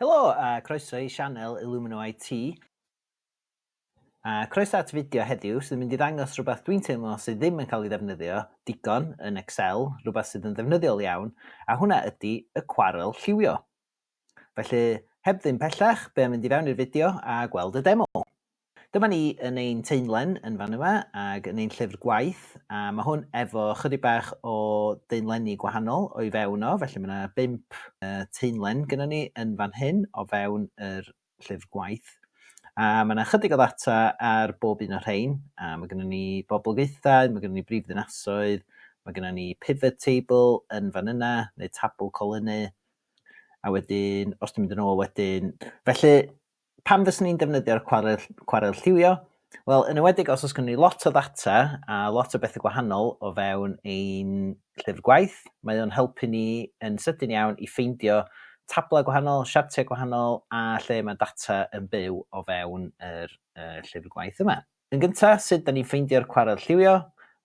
Helo a croeso i sianel Illumino IT. A croeso at fideo heddiw sydd yn mynd i ddangos rhywbeth dwi'n teimlo sydd ddim yn cael ei ddefnyddio digon yn Excel, rhywbeth sydd yn ddefnyddiol iawn, a hwnna ydy y cwarel lliwio. Felly, heb ddim pellach, be am mynd i fewn i'r fideo a gweld y demo. Dyma ni yn ein teunlen yn fan yma ag yn ein llyfr gwaith a ma' hwn efo chydig bach o deunlenni gwahanol o'i fewn o felly ma' 'na bump teunlen gynnon ni yn fan hyn o fewn yr llyfr gwaith a ma' 'na chydig o ddata ar bob un o rhein a ma' gynnon ni boblogaethau, ma' gynnon ni brif ddinasoedd, ma' gynnon ni pivot table yn fan yna neu tabl colynnu a wedyn os dwi'n mynd yn ôl wedyn felly Pam fyswn i'n defnyddio'r cwarel, cwarel lliwio? Wel, yn ywedig os oes gen ni lot o ddata a lot o bethau gwahanol o fewn ein llyfr gwaith, mae o'n helpu ni yn sydyn iawn i ffeindio tablau gwahanol, siartiau gwahanol a lle mae data yn byw o fewn yr uh, llyfr gwaith yma. Yn gynta, sut da ni'n ffeindio'r cwarel lliwio?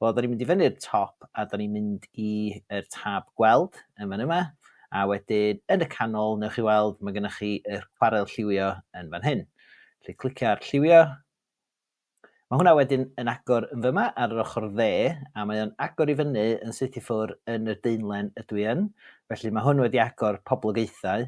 Wel, da ni'n mynd i fyny'r top a da ni'n mynd i yr tab gweld yn fan yma, a wedyn yn y canol, newch chi weld, mae gennych chi yr cwarel lliwio yn fan hyn. Felly clicio ar lliwio. Mae hwnna wedyn yn agor yn fyma ar yr ochr dde, a mae o'n agor i fyny yn syth i ffwr yn yr deunlen ydw i yn. Felly mae hwn wedi agor poblogaethau.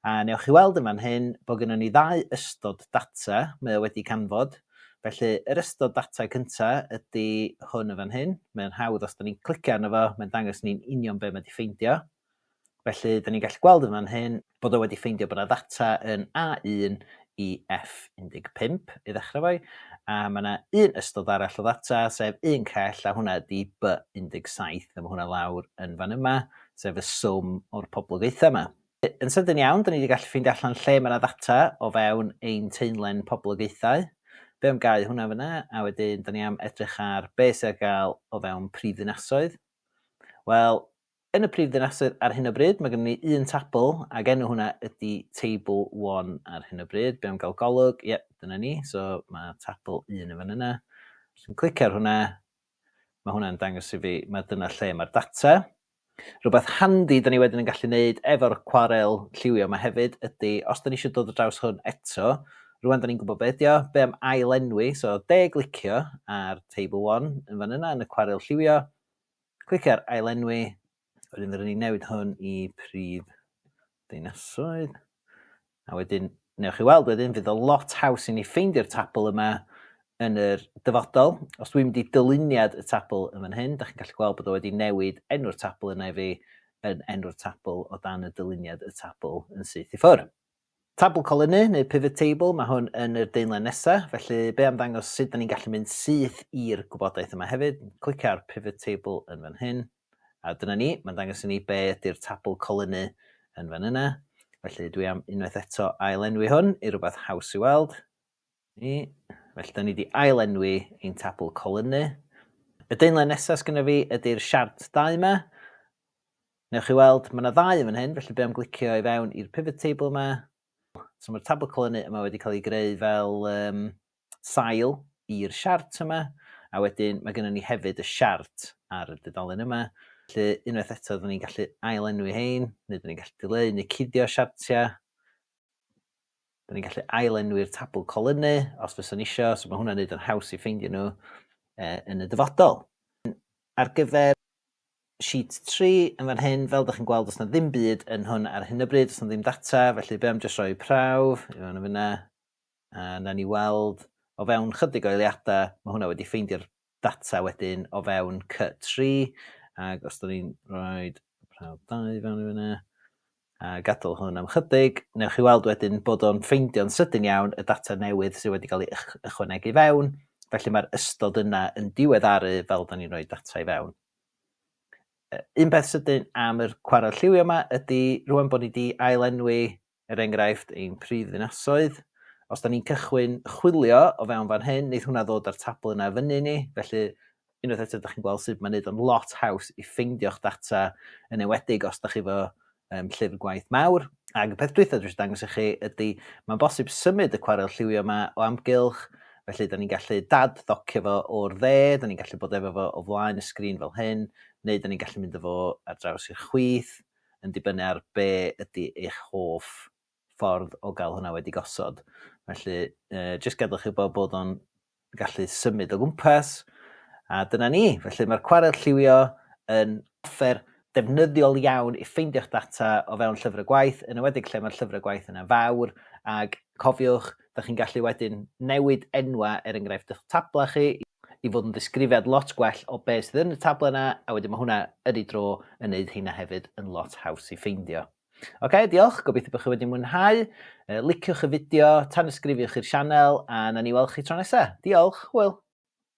A newch chi weld yn fan hyn bod gynnon ni ddau ystod data, mae o wedi canfod. Felly, yr ystod data cynta ydy hwn yn fan hyn. Mae'n hawdd os da ni'n clicio arno fo, mae'n dangos ni'n union be mae wedi ffeindio. Felly, da ni'n gallu gweld yn fan hyn bod o wedi ffeindio bod yna ddata yn A1 i F15 i ddechrau fo'i, a mae yna un ystod arall o ddata, sef un cell, a hwnna ydy B17, a mae hwnna lawr yn fan yma, sef y swm o'r poblogaethau yma. Yn sydyn iawn, dyn ni wedi gallu ffeindio allan lle mae yna ddata o fewn ein teunlen poblogaethau. Be am gau hwnna fyna, a wedyn dyn ni am edrych ar be sydd ar gael o fewn prif ddinasoedd. Wel, yn y prif ddinasoedd ar hyn o bryd, mae gen ni un tabl, ac enw hwnna ydy Table 1 ar hyn o bryd. Be am gael golwg? Ie, dyna ni, so mae tabl 1 yn fan yna. Dwi'n clicio ar hwnna, Mae hwnna'n dangos i fi, mae dyna lle mae'r data. Rhywbeth handi da ni wedyn yn gallu gwneud efo'r cwarel lliwio yma hefyd ydy, os da ni eisiau dod o draws hwn eto, rwan da ni'n gwybod beth ydy o, be am ail enwi, so de glicio ar table 1 yn fan yna yn y cwarel lliwio, clicio ar ail enwi, Wedyn rydyn ni'n newid hwn i prif ddinasoedd. A wedyn, newch chi weld wedyn, fydd o lot haws i ni ffeindio'r tabl yma yn yr dyfodol. Os dwi'n mynd i dyluniad y tabl yn fan hyn, da chi'n gallu gweld bod o wedi newid enw'r tabl yna i fi yn enw'r tabl o dan y dyluniad y tabl yn syth i ffwrdd. Tabl colynnu, neu pivot table, mae hwn yn yr daenlen nesa, felly be am ddangos sut da ni'n gallu mynd syth i'r gwybodaeth yma hefyd, clicio ar pivot table yn fan hyn, a dyna ni, mae'n dangos i ni be ydy'r tabl colynnu yn fan yna, felly dwi am unwaith eto ail-enwi hwn i rwbath haws i weld, Ni. Felly, da ni wedi ail-enwi ein tabl colynnu. Y daenlen nesaf sgynna fi ydy'r siart dau yma. Newch chi weld, mae yna ddau yn fan hyn, felly be am glicio i fewn i'r pivot table yma. So mae'r tabl colynnu yma wedi cael ei greu fel um, sail i'r siart yma. A wedyn mae gennym ni hefyd y siart ar y dudalen yma. Felly unwaith eto, da ni'n gallu ail-enwi hein, neu da ni'n gallu dileu neu cuddio siartiau. Dyn ni'n gallu ailenwi'r tabl colynnu os fyswn eisiau, so mae hwnna'n neud yn haws i ffeindio nhw eh, yn y dyfodol. Ar gyfer sheet 3 yn fan hyn, fel ydych chi'n gweld, os yna ddim byd yn hwn ar hyn o bryd, os yna ddim data, felly be am jyst rhoi prawf, i fan yna, a na ni weld o fewn chydig o eiliadau, mae hwnna wedi ffeindio'r data wedyn o fewn cy-tri, ac os dyn ni'n rhoi prawf dau i fewn i fyna, a gadael hwn am chydig, newch chi weld wedyn bod o'n ffeindio'n sydyn iawn y data newydd sydd wedi cael ei ychwanegu fewn, felly mae'r ystod yna yn diweddaru fel dyn ni'n rhoi data i fewn. Un peth sydyn am yr cwarel lliwio yma ydy rwan bod ni wedi ail-enwi er enghraifft, ein prifddinasoedd. Os da ni'n cychwyn chwilio o fewn fan hyn, neith hwnna ddod â'r tabl yna fyny ni, felly unwaith eto da chi'n gweld sut mae'n neud o'n lot haws i ffeindio'ch data yn ewedig os da chi fo um, llyfr gwaith mawr. Ac y peth dwytha dwi eisiau dangos i chi ydy, mae'n bosib symud y cwarel lliwio yma o amgylch, felly da ni'n gallu dad ddocio fo o'r dde, da ni'n gallu bod efo fo o flaen y sgrin fel hyn, neu da ni'n gallu mynd efo ar draws i'r chwith, yn dibynnu ar be ydy eich hoff ffordd o gael hwnna wedi gosod. Felly, uh, jyst gadwch chi bod bod o'n gallu symud o gwmpas, a dyna ni. Felly mae'r cwarel lliwio yn offer defnyddiol iawn i ffeindio'ch data o fewn llyfr y gwaith, yn ywedig lle mae'r llyfr y gwaith yna fawr, ac cofiwch, Dych chi'n gallu wedyn newid enwau, er enghraifft, eich tablau chi i fod yn ddisgrifiad lot gwell o be sydd yn y tablau yna, a wedyn mae hwnna yn ei dro yn wneud heina hefyd yn lot haws i ffeindio. Ok, diolch, gobeithio bod chi wedi mwynhau. Liciwch y fideo, tanysgrifiwch i'r sianel, a na ni weld chi tro nesaf. Diolch, hwyl!